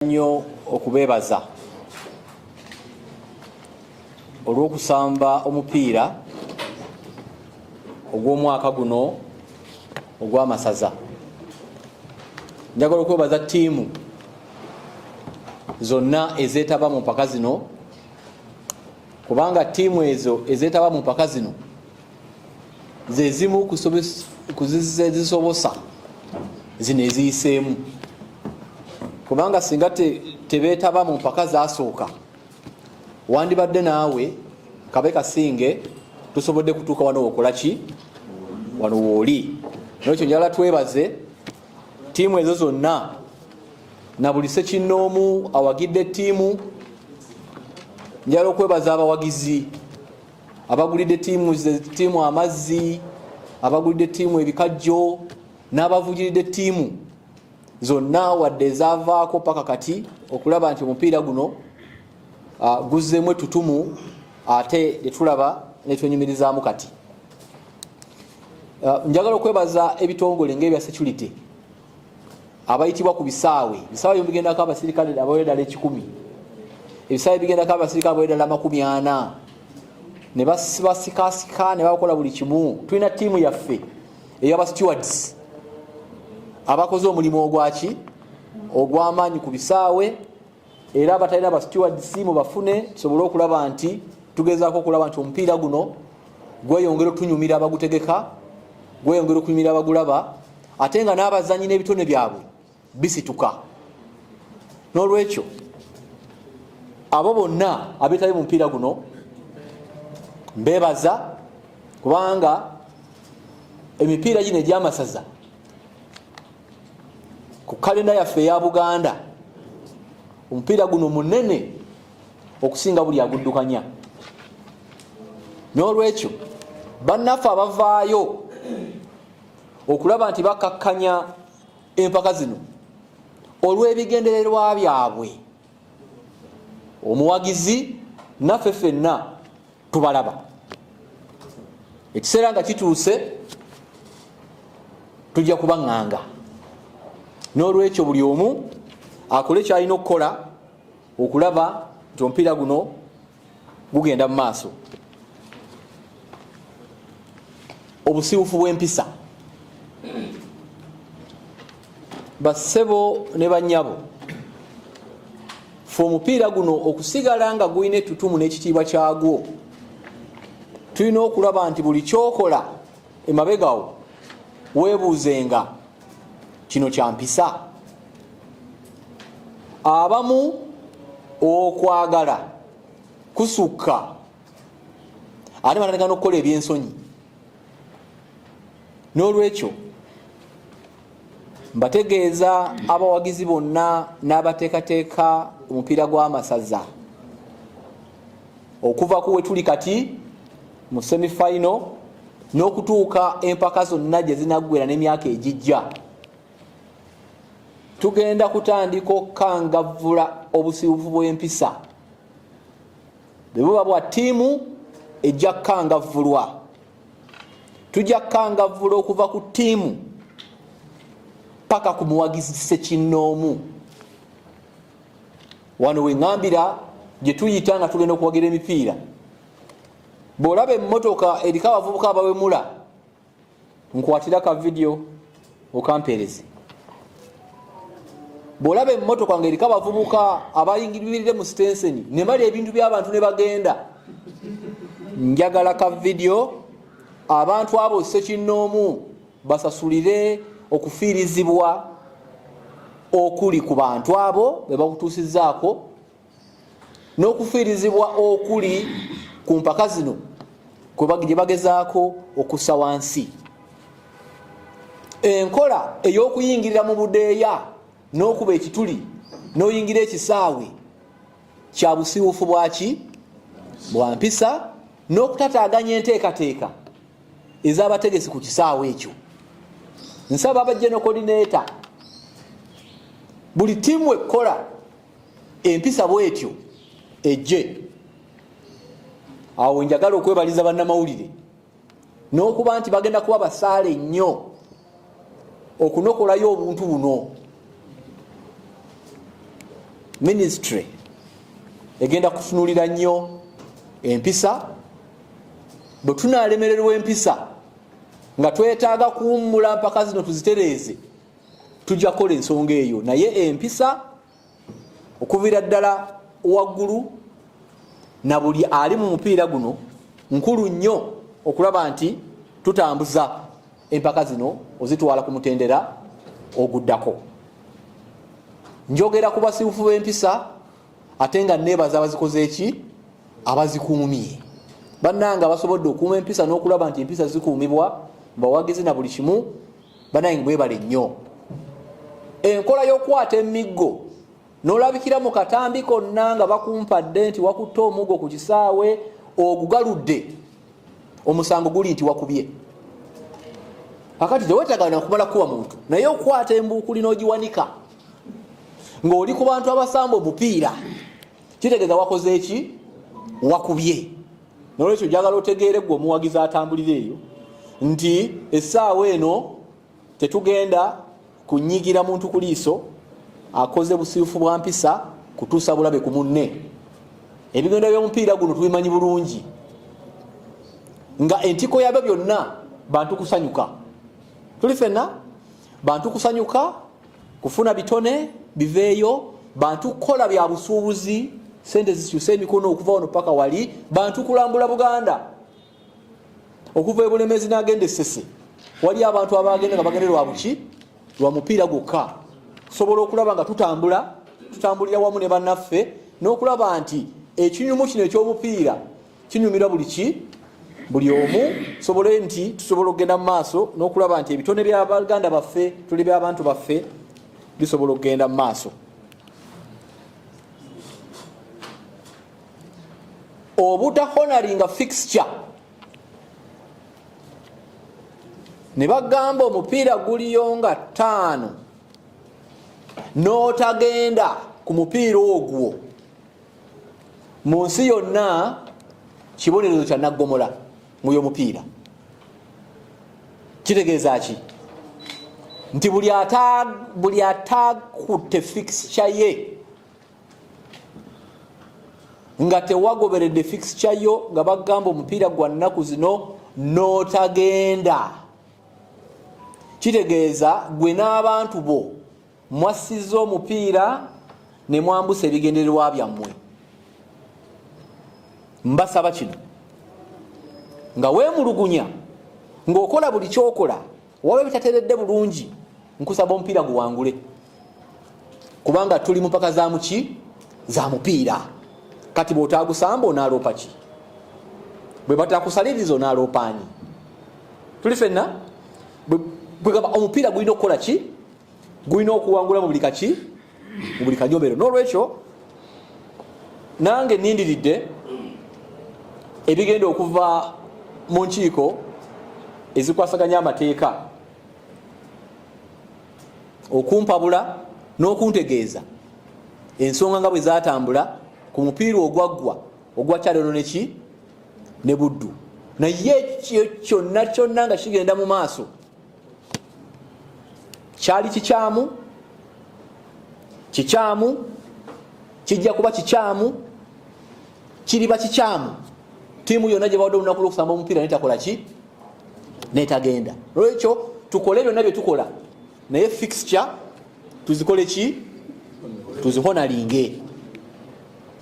nnyo okubeebaza olw'okusamba omupiira ogw'omwaka guno ogw'amasaza njagala okwebaza ttiimu zonna ezeetaba mu mpaka zino kubanga ttiimu ezo ezeetaba mu mpaka zino ze zimu ku zisobosa zino eziyiseemu kubanga singa tebeetaba mu mpaka zasooka wandibadde naawe kabe kasinge tusobodde kutuuka wano wokola ki wano wooli nokyo njala twebaze tiimu ezo zonna na buli sekinnoomu awagidde tiimu njala okwebaza abawagizi abagulidde tiimu amazzi abagulidde tiimu ebikajjo n'abavugiridde tiimu zonna wadde ezaavaako paka kati okulaba nti omupiira guno ah, guzzeemu etutumu ate netulaba netwenyumirizaamu kati ah, njagala okwebaza ebitongole ngaebya security abayitibwa ku bisaawe bisaawe byo bigendako abasirikale abawe ddala ekikumi ebisaawe bigendako abasirikale abawe ddala amakumi ana ne basikasika ne bakola buli kimu tulina tiimu yaffe eyaba stewards abakoze omulimu ogwaki ogwamaanyi ku bisaawe era abatalina ba stewards mubafune tusobole okulaba nti tugezaako okulaba nti omupiira guno gweyongera otunyumira abagutegeka gweyongera okunyumira abagulaba ate nga n'abazanyi n'ebitone byabwe bisituka n'olwekyo abo bonna abetali mu mupiira guno mbebaza kubanga emipiira gino egyamasaza ku kalenda yaffe eya buganda omupiira guno munene okusinga buli aguddukanya n'olwekyo bannaffe abavaayo okulaba nti bakakkanya empaka zino olw'ebigendererwa byabwe omuwagizi naffe fenna tubalaba ekiseera nga kituuse tujja kubaŋŋanga n'olwekyo buli omu akole kyalina okukola okulaba nti omupiira guno gugenda mu maaso obusiwufu bw'empisa bassebo ne banyabo fe omupiira guno okusigala nga gulina ettutumu n'ekitiibwa kyagwo tulina okulaba nti buli kyokola emabegawo webuuzenga kino kyampisa abamu okwagala kusukka ate banatagana okukola ebyensonyi n'olwekyo mbategeeza abawagizi bonna n'abateekateeka omupiira gw'amasaza okuva ku wetuli kati mu semifinal n'okutuuka empaka zonna gye zinaggwera n'emyaka egijja tugenda kutandika okukangavvula obusibufu bw'empisa bwe buba bwa ttiimu ejja kukangavvulwa tujja kukangavvula okuva ku ttiimu paka ku muwagizi sekinnoomu wano weŋambira gye tuyita nga tugenda okuwagira emipiira bw'olaba emmotoka eriko abavubuka abawemula nkwatira ka vidiyo okampeereze bwolaba emmotoka nga eriko abavubuka abayingirire mu sitenseni ne bali ebintu by'abantu ne bagenda njagala ka vidiyo abantu abo sekinnoomu basasulire okufiirizibwa okuli ku bantu abo be bakutuusizaako n'okufiirizibwa okuli ku mpaka zino gye bagezaako okussa wansi enkola ey'okuyingirira mu budeeya n'okuba ekituli n'oyingira ekisaawe kya busiwufu bwaki bwa mpisa n'okutataaganya enteekateeka ez'abategesi ku kisaawe ekyo nsaba abajja nokodineta buli tiimu ekkola empisa bwetyo ejje awo njagala okwebaliza bannamawulire n'okuba nti bagenda kuba basaale nnyo okunokolayo obuntu buno ministry egenda kutunulira nnyo empisa bwe tunaalemererwa empisa nga twetaaga kuwummula mpaka zino tuzitereeze tujja kukola ensonga eyo naye empisa okuvira ddala waggulu na buli ali mu mupiira guno nkulu nnyo okulaba nti tutambuza empaka zino ozitwala ku mutendera oguddako njogera ku basibufu b'empisa ate nga neebaza abazikoze eki abazikuumye bannanga basobodde okuuma empisa n'okulaba nti empisa zikuumibwa mbawagizi na buli kimu banaye mwebale nnyo enkola y'okukwata emiggo nolabikira mu katambi konna nga bakumpadde nti wakutte omuggo ku kisaawe ogugaludde omusango guli nti wakubye akati tewetagana kumala kuba muntu naye okukwata embuukuli n'ogiwanika ng'oli ku bantu abasamba omupiira kitegeeza wakoze eki wakubye nolwekyo njagala otegeere gwe omuwagizi atambulira eyo nti essaawa eno tetugenda kunyigira muntu ku liiso akoze busiifu bwa mpisa kutuusa bulabe ku munne ebigendo by'omupiira guno tubimanyi bulungi nga entiko yabyo byonna bantu kusanyuka tuli fenna bantu kusanyuka kufuna bitone biveeyo bantu kukola bya busuubuzi sente zikyuse emikono okuva wano paka wali bantu kulambula buganda okuva ebulemezi nagenda esese wali abantu abagenda nga bagende lwabuki lwa mupiira gwokka tusobola okulaba nga tutambula tutambulira wamu ne banaffe n'okulaba nti ekinyumu kino ekyobupiira kinyumira buli ki buli omu tusobole nti tusobola okugenda mu maaso n'okulaba nti ebitone bya baganda baffe tuli byabantu baffe bisobola okugenda mu maaso obutahonaringa fixture ne bagamba omupiira guliyo nga ttaano n'otagenda ku mupiira ogwo mu nsi yonna kibonerezo kya naggomola mu y'omupiira kitegeeza ki nti buli atakutte fikisca ye nga tewagoberedde fikisca yo nga bagamba omupiira gwa nnaku zino n'otagenda kitegeeza gwe n'abantu bo mwassizza omupiira ne mwambusa ebigendererwa byammwe mbasaba kino nga weemulugunya ng'okola buli kyokola waba bitateredde bulungi nkusaba omupiira guwangule kubanga tuli mupaka za muki za mupiira kati bwotagusamba onaaloopa ki bwe batakusaliriza onaaloopaanyi tuli fenna bwegamba omupiira gulina okukola ki gulina okuwangula mu buli kaki mu buli kanyomero n'olwekyo nange nindiridde ebigenda okuva mu nkiiko ezikwasaganya amateeka okumpabula n'okuntegeeza ensonga nga bwe zatambula ku mupiira ogwaggwa ogwa kyalono neki ne buddu naye ekyo kyonna kyonna nga kigenda mu maaso kyali kikyamu kikyamu kijja kuba kikyamu kiriba kikyamu tiimu yonna gye bawadde olunaku lwokusamba omupiira netakola ki netagenda lwekyo tukole byonna bye tukola naye fixture tuzikole ki tuzihonalinge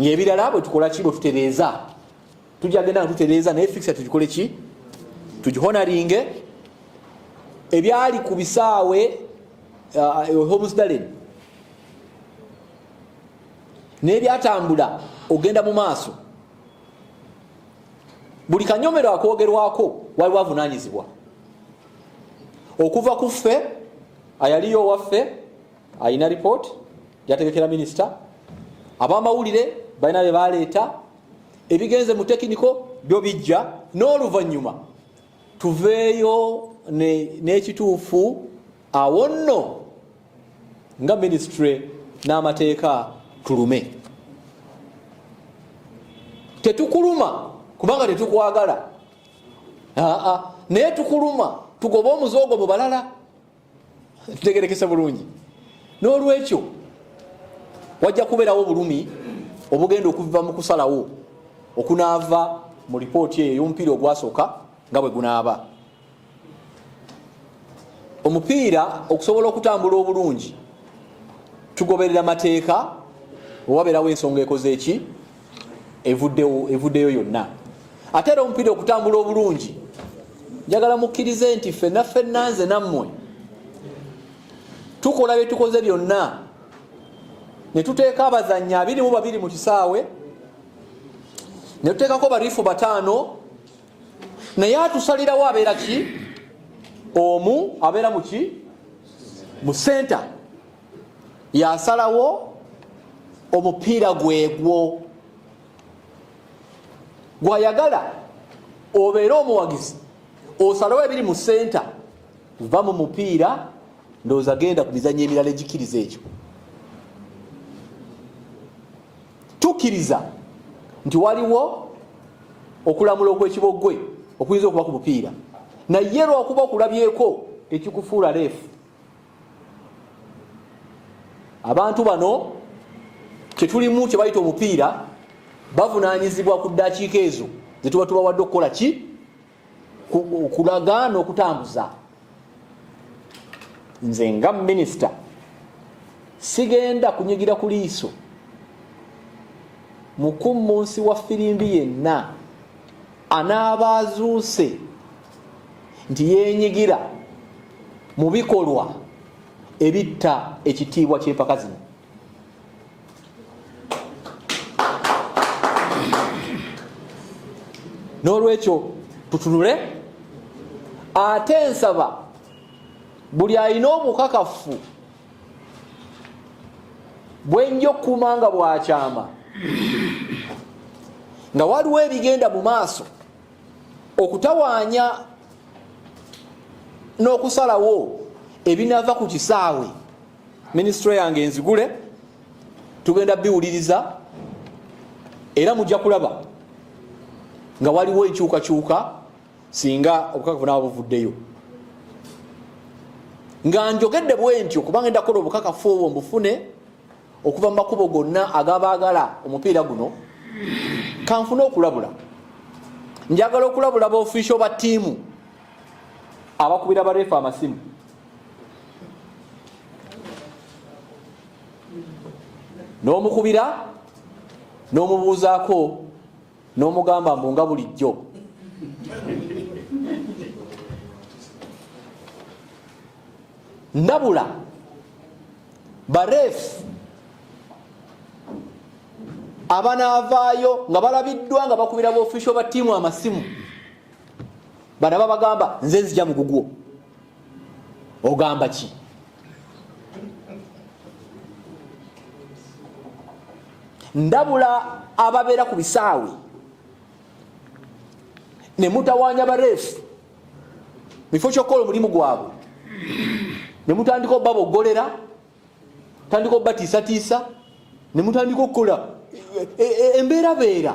ngaebirala bwetukola ki bwetutereeza tujja genda tutereeza naye fixa tugikole ki tugihonaringe ebyali ku bisaawe uh, uh, homsdalen naye byatambula ogenda mu maaso buli kanyomero akwogerwako waliwo avunanyizibwa okuva ku ffe ayaliyo owaffe alina report yategekera minisita abamawulire balina bebaleeta ebigenze mu tekiniko byo bijja n'oluvannyuma tuveeyo n'ekituufu awo nno nga minisitule n'amateeka tulume tetukuluma kubanga tetukwagala aa naye tukuluma tugobe omuze ogwo mu balala tutegerekese bulungi n'olwekyo wajja kubeerawo obulumi obugenda okuva mu kusalawo okunaava mu lipooti eyo ey'omupiira ogwasooka nga bwe gunaaba omupiira okusobola okutambula obulungi tugoberera mateeka owabeerawo ensonga ekoze eki evuddeyo yonna ate era omupiira okutambula obulungi njagala mukkirize nti ffenna ffenna nze nammwe tukola bye tukoze byonna ne tuteeka abazannyi abiri mu babiri mu kisaawe ne tuteekako barifu bataano naye atusalirawo abeera ki omu abeera muki mu senta yasalawo omupiira gwegwo gwayagala obeere omuwagizi osalawo ebiri mu senta va mu mupiira ndowooza genda ku mizanyo emirala egikiriza ekyo tukkiriza nti waliwo okulamula okwekiboggwe okuyinza okuba ku mupiira naye lwakuba okulabyeko tekikufuula leefu abantu bano kyetulimu kyebayita omupiira bavunanyizibwa ku ddakiika ezo zetuba tubawadde okukola ki okulaga n'okutambuza nze nga minisita sigenda kunyigira ku liiso mukummunsi wa firimbi yenna anaaba azuuse nti yenyigira mu bikolwa ebitta ekitiibwa ky'empaka zino n'olwekyo tutunule ate nsaba buli alina obukakafu bwenja okukuuma nga bwakyama nga waliwo ebigenda mu maaso okutawaanya n'okusalawo ebinaava ku kisaawe minisitule yange enzigule tugenda biwuliriza era mujja kulaba nga waliwo enkyukakyuka singa obukakafu naaba buvuddeyo nga njogedde bwentyo kubanga enda kukola obukakafu obwo mbufune okuva mu makubo gonna agabaagala omupiira guno kanfuna okulabula njagala okulabula baofiisio ba ttiimu abakubira bareefa amasimu n'omukubira n'omubuuzaako n'omugamba mbu nga bulijjo ndabula bareefu abanaavaayo nga balabiddwa nga bakubira baofisio ba tiimu amasimu banaba bagamba nze nzija mugugwo ogamba ki ndabula ababeera ku bisaawe ne mutawaanya bareefu mukifo kyokukola omulimu gwabwe nemutandika obabogolera tandika obatiisatiisa nemutandika okukola e, e, e, embeerabeera